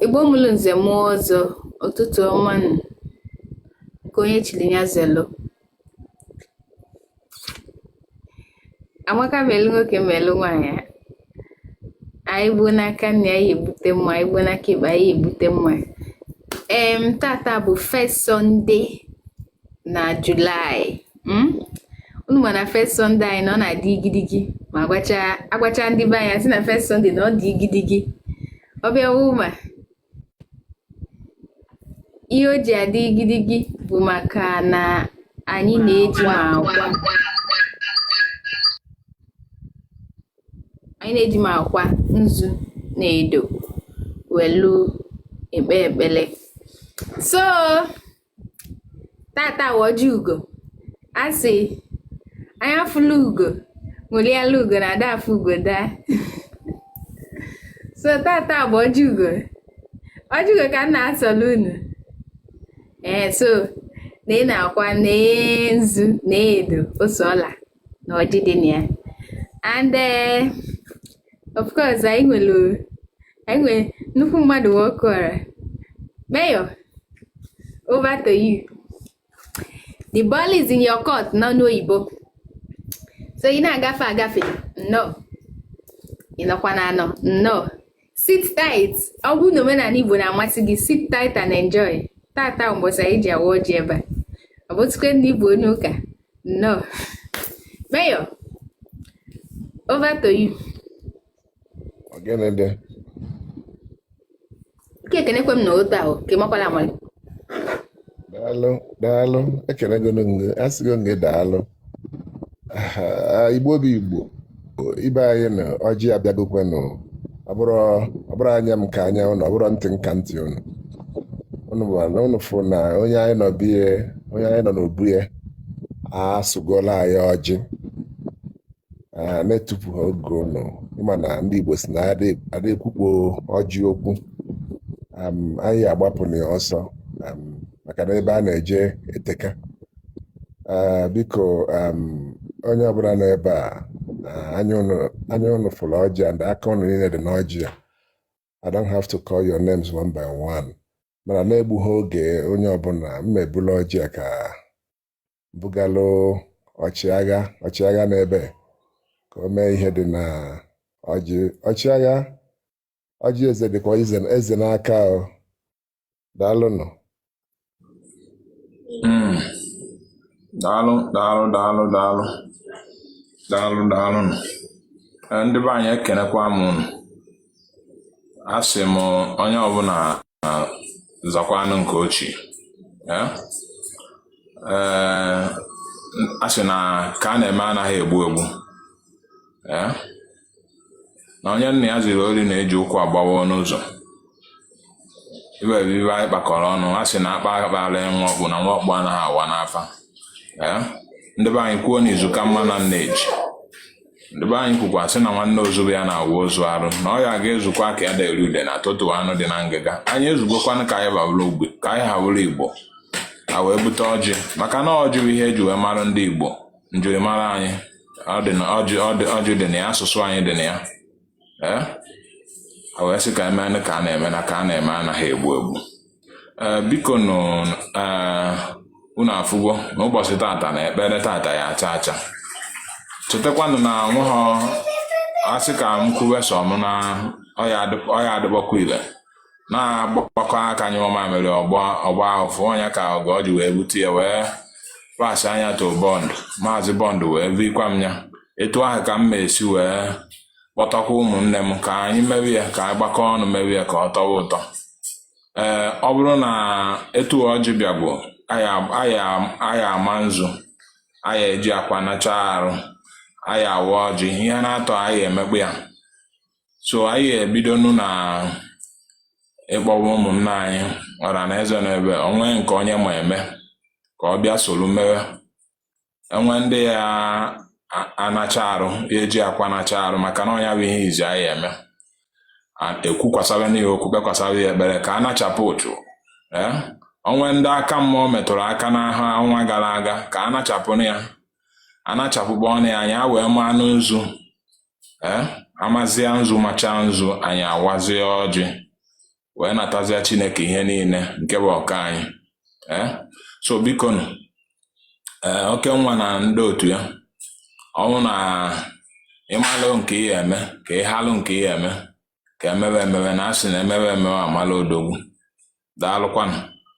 Igbo mụrụ nze mụọ ọzọ ụtụtụ ọma nụ nke onye chiri ya zelo amaka melu nwoke melu nwaanyị anyị gbuo n'aka nni anyị ebute mma anyị gbuo n'aka ekpe anyị ebute mma em tata bụ first Sunday na July hmm? unu ma na first Sunday anyị na ọ na-adị igidigi ma agwacha ndị be anyị sị na first Sunday na ọ dị igidigi ọ bịa wuma ihe o ji adị igidigi bụ maka na anyị na-eji anyị na-eji ma ọkwa nzu na edo welu ekpe ekpele so tata bụ ọjị ugo a sị anya fụlụ ugo ṅụlịalụ ugo na ada afụ ugo daa so tata bụ ọjị ugo ọjị ugo ka m na-asọlụ unu ee so n'ime ọkwa na nzu na edo ose ọla na ọjị dị na ya and eh, of course anyị nwere anyị nwere nnukwu mmadụ nwokeọra mayor over to you the ball is in your court n'onu oyibo so ị na-agafe agafe nnọọ ị nọkwa na anọ nnọọ sit tight ọ bụrụ na omenani igbo na-amasị gị sit tight and enjoy tata mbọsị anyị ji awa ọjị ebe a ọ bụtụkwe ndị igbo onye ụka nnọọ mayor over to you Ọgịnịdị. nke ekenekwe m na otu ahụ ka ị makwala amali Daalụ, daalụ, ekenego m gị, asịgo m gị daalụ. igbo bụ igbo ibe anyị na ọjị abịagokwanụ ọ bụrụ anya m ka anya ụnụ ọ bụrụ ntị m ka ntị ụnụ ụnụ fụ na onye anyị nọ be ya onye anyị nọ n'obu ya asọgolu anyị ọjị na-etufuhọ oge ụnụ ma na ndị igbo si na ada ekwukpo ọjị okwu anyị agbapụ na ọsọ maka na ebe a na-eje eteka Ee, biko em, onye ọbụna nọ ebe a eh, anya unu anya unu fụlụ ọjị and aka unu niine dị n'ọjị a I don't have to call your names one by one mana na-egbughị oge onye ọbụna m ebulu ọjị a ka bugalụ ọchịagha ọchịagha n'ebe ka o mee ihe dị na ọjị ọchịagha ọjị eze dịkwa ize- eze n'aka o daalụnụ hmm. daalụ daalụ daalụ daalụ daalụ daalụ eh, ndị be anyị ekenekwa m unu asị m onye ọbụla zakwanụ nke o chi eh? Eh, a sị na ka a na-eme anaghị egbu egbu na onye nna ya ziri ori na-eji ụkwụ agbawa ọnụ ụzọ ibe bụ ibe anyị kpakọrọ ọnụ a sị na akpa akpara nwa ọkpụ na nwa ọkpụ anaghị awa n'afa ee ndị be anyị kwuo na izu ka mma na nneji ndị be anyị kwukwa sị na nwanne ozu bụ ya na-awụ ozu arụ na ọ ya ga-ezukwa ka anyị ha eri udene atọtuo anụ dị na ngịga anyị ezugokwanụ ka anyị ha bụrụ ogbe ka anyị ha wụrụ igbo a wee bute ọjị maka na ọjị bụ ihe eji wee mara ndị igbo njirimara anyị ọjị dị na ya asụsụ anyị dị na ya ee eh? a wee sị ka emenụ ka a na-eme na ka a na-eme anaghị egbu egbu ee eh, biko nụ eh, unu afụgo n'ụbọchị tata na ekpere tata ya acha acha chetakwanụ na ọ wụghọ asị ka m kwuwe sọ m na ọ ya adịkpọkwa ile na agbakọ aka nyụọ mamịrị ọ gbaa ụfụfụ ọ nya ka ọga ọ ji wee bute ya wee pasịa nya to bọnd maazị bọnd wee vikwa m ya etu ahụ ka m si wee kpọtakwa ụmụnne m ka anyị mewe ya ka anyị gbakọ ọnụ mewe ya ka ọ tọwa ụtọ ee ọ bụrụ na etu ọjị bịago anyị ama nzu anyị eji akwa nacha arụ anyị awa ọjị ihe naatọ anyị emekpọ ya so anyị ebidonu na ịkpọwa ụmụnna anyị ọra na eze na ebe o nwe nke onye ma eme ka ọ bịa soro mewe enwe ndị ya anacha arụ ya eji akwa nacha arụ maka na ọ nya bụ ihe izi anyị eme ekwukwasara n'ihe okwu kpekwasara ya ekpere ka a nachapụ ụchụ eh? o nwe ndị aka mmụọ metụrụ aka n'ahụ ọnwa gara aga ka a nachapụ ya anachapụkpọnụ ya anyị wee manụ nzu ee amazia nzu macha nzu anyị awazie ọjị wee natazia chineke ihe niile nke bụ ọka anyị ee so biko nụ ee okenwa na ndị otu ya ọ wụ na ịmalụ nke ị ya-eme ka ịhalụ nke ị ya-eme ka emewe emewe na asị na emewe emewe amala odogwu daalụkwanụ